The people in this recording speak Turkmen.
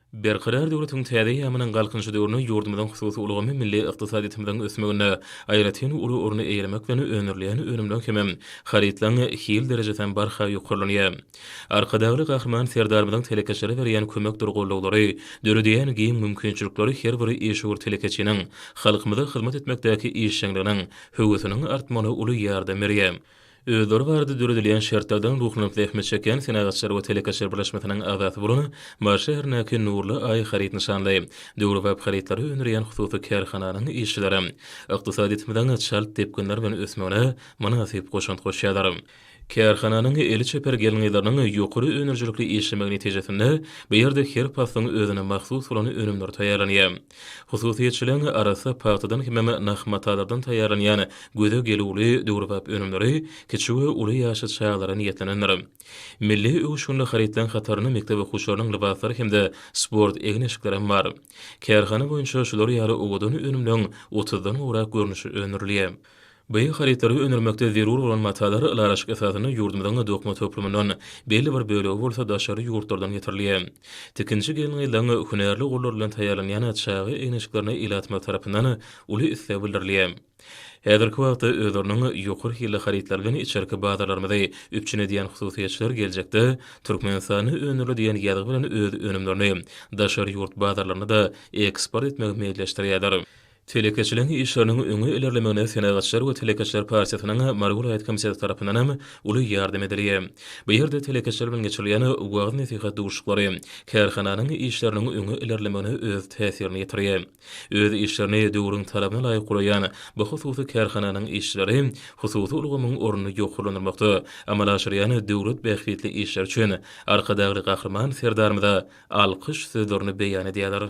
Berkarar döwletiň täze eýýamynyň Galkynyşy döwründe ýurdumyzyň hususy ulgamy milli ykdysadyýetimiziň ösmeginde aýratyn uly orny eýelemek bilen, öndürilýän önümleň hem-ä harytlaryň hil derejesi hem barha ýokarlanýar. Arkadagly Gahryman Serdarymyzyň telekeçilere berýän kömekdir gollaglary, döredýän giň mümkinçilikleri her bir işewür telekeçiniň halkymyza hyzmat etmekdäki işjeňliginiň, höwesiniň artmagyna uly ýardam berýär. Özleri barada döredilýän şertlerden ruhlanyp zähmet çekýän Senagatçylar we telekeçiler birleşmesiniň agzasy bolan Mary şäherindäki Nurly Aý haryt nyşanly, döwrebap harytlary öndürýän hususy kärhananyň işçileri ykdysadyýetimiziň çalt depginler bilen ösmegine mynasyp goşant goşýarlar. Kärhananyň eli çeper gelin-gyzlarynyň ýokary önerijilikli işlemegi netijesinde, bu ýerde her paslyň özüne mahsus bolan önümler taýýarlanýar. Hususyýetçiligiň arassa pagtadan hemem nah matalardan taýýarlanýan göze gelüwli döwrebap önümleri kiçi we uly ýaşly çagalara niýetlenendir. Milli öwüşginli harytlaryň hatarynda mekdep okuwçylarynyň lybaslary hem-de sport egin-eşiklerem bar. Kärhana boýunça şular ýaly owadan önümleriň otuzdan gowrak görnüşi öndürilýär. Bu harytlary öndürmekde zerur bolan matalar ylalaşyk esasynda ýurdumyzyň dokma toplumyndan, belli bir bölegi bolsa daşary ýurtlardan getirilýär. Tikinçi gelin-gyzlaryň hünärli gollary bilen taýýarlanýan çaga eýneçiklerine ilatymyz tarapyndan uly isleg bildirilýär. Häzirki wagtda özleriniň ýokary hilli harytlary bilen içerki bazarlarymyzy üpjün edýän hususyýetçiler geljekde Türkmenistanda öndürildi diýen ýazgy bilen öz önümlerini daşary ýurt bazarlaryna-da eksport etmegi meýilleşdirýärler. Telekeçiligiň işleriniň öňe ilerlemegine Senagatçylar we telekeçiler partiýasynyň Mary welaýat komiteti tarapyndan hem uly ýardam edilýär. Bu ýerde telekeçiler bilen geçirilýän wagyz-nesihat duşuşyklary kärhananyň işleriniň öňe ilerlemegine öz täsirini ýetirýär. Öz işlerini döwrüň talabyna laýyk guraýan bu hususy kärhananyň işçileri hususy ulgamyň ornuny ýokarlandyrmakda amala aşyrýan döwlet bähbitli işleri üçin Arkadagly Gahryman Serdarymyza alkyş sözlerini beýan edýärler.